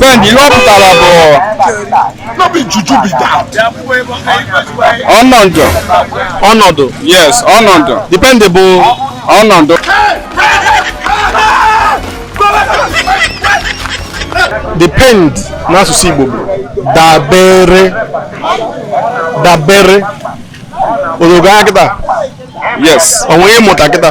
Ben, ihe ọ pụtara bụ ọnọdụ ọnọdụ yes ọnọdụ depend bụ ọnọdụ depend n'asụsụ Igbo bụ dabere dabere o rogo anya kịta yes onwe ị mụta kịta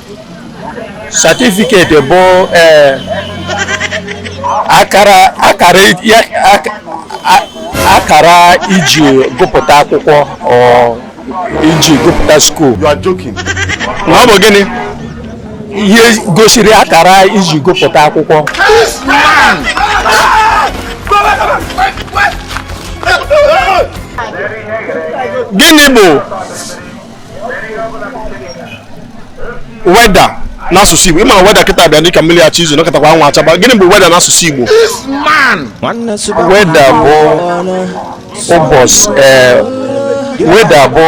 certificate bụ ee akara akara ya ak- a- akara e ji gụpụta akwụkwọ ọ e ji gụpụta school You are joking. na ọ bụ gịnị ihe gosiri akara e ji gụpụta akwụkwọ gịnị bụ weather n'asụsụ Igbo ị mara weather kịta bịa dịka mmiri achọ izo nọkatakwa anwụ achaba gịnị bụ weather n'asụsụ Igbo weather bụ ụbọchị eh, weather bụ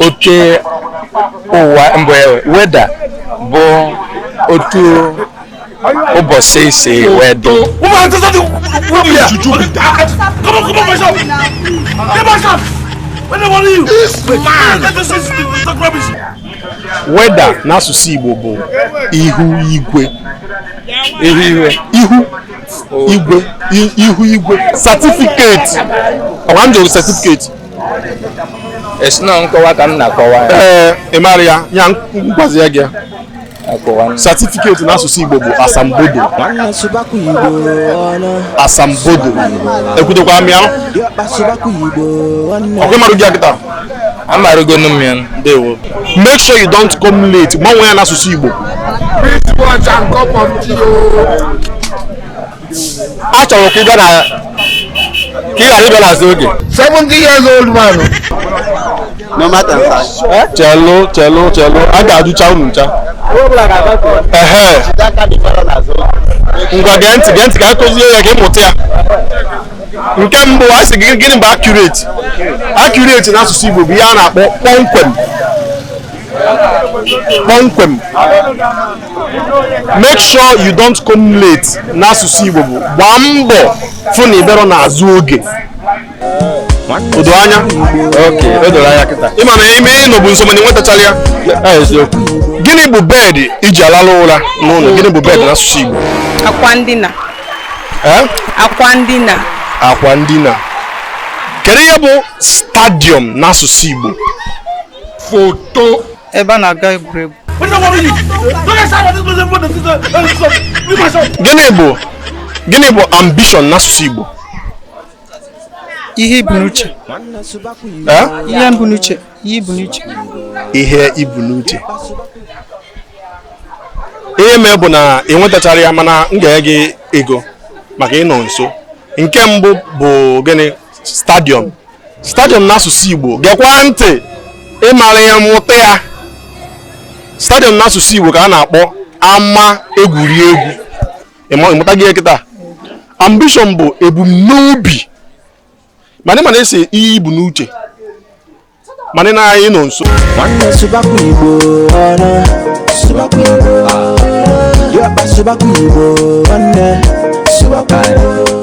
oke ụwa mgbe weather bụ otu ụbọchị si wee dị weather n'asụsụ Igbo bụ ihu igwe ihu igwe ihu igwe certificate ọkwa m jụrụ certificate ị sị na nkọwa ka m na-akọwa ya ee ị mara ya ya m gwazia gị ya certificate n'asụsụ Igbo bụ asambodo asambodo ekwudokwara m ya ọkwa ị marụgo ya kịta amarụgo nụ m ya ndewo make sure you don't come late gbanwee ya n'asụsụ Igbo a chọrọ ka ị bịa na ka ị ghara ịbịa n'azụ oge 70 years old man no matter size chelụ chelụ chelụ a ga-ajụcha unu ncha ehe ngwa gee ntị gee ntị ka a kụzie ya ka ị mụta ya nke mbụ a sị gị gịnị bụ accurate accurate n'asụsụ Igbo bụ ihe a na-akpọ kpọmkwem kpọmkwem make sure you don't come late n'asụsụ Igbo bụ gbaa mbọ fụ na ị bịarọ n'azụ oge o do anya ị ma na ime ịnọ bụ nsogbu na ị nwetachara ya gịnị bụ bed e ji alalụ ụra n'ụlọ gịnị bụ bed n'asụsụ Igbo akwa ndina akwa ndina akwa ndina kedu ihe bụ stadium n'asụsụ Igbo foto ebe a na-aga egwuregwu gịnị bụ gịnị bụ ambition n'asụsụ Igbo ihe i bu n'uche ihe m bu n'uche ihe i bu n'uche ihe ibu n'uche ihe mee bụ na ị nwetacharọ ya mana m ga-enye gị ego maka ị nọ nso nke mbụ bụ gịnị stadiọm stadiọm n'asụsụ Igbo gekwa ntị ị mara ya mụta ya stadiọm n'asụsụ Igbo ka a na-akpọ ama egwuregwu ị mụtago kịta ambishọn bụ ebumnobi mana ị ma na ị sị ihe i bu n'uche mana na anyị nọ nso nwanne sụbakwa Igbo ọnụ sụbakwa Igbo ọnụ sụbakwa Igbo nwanne sụbakwa Igbo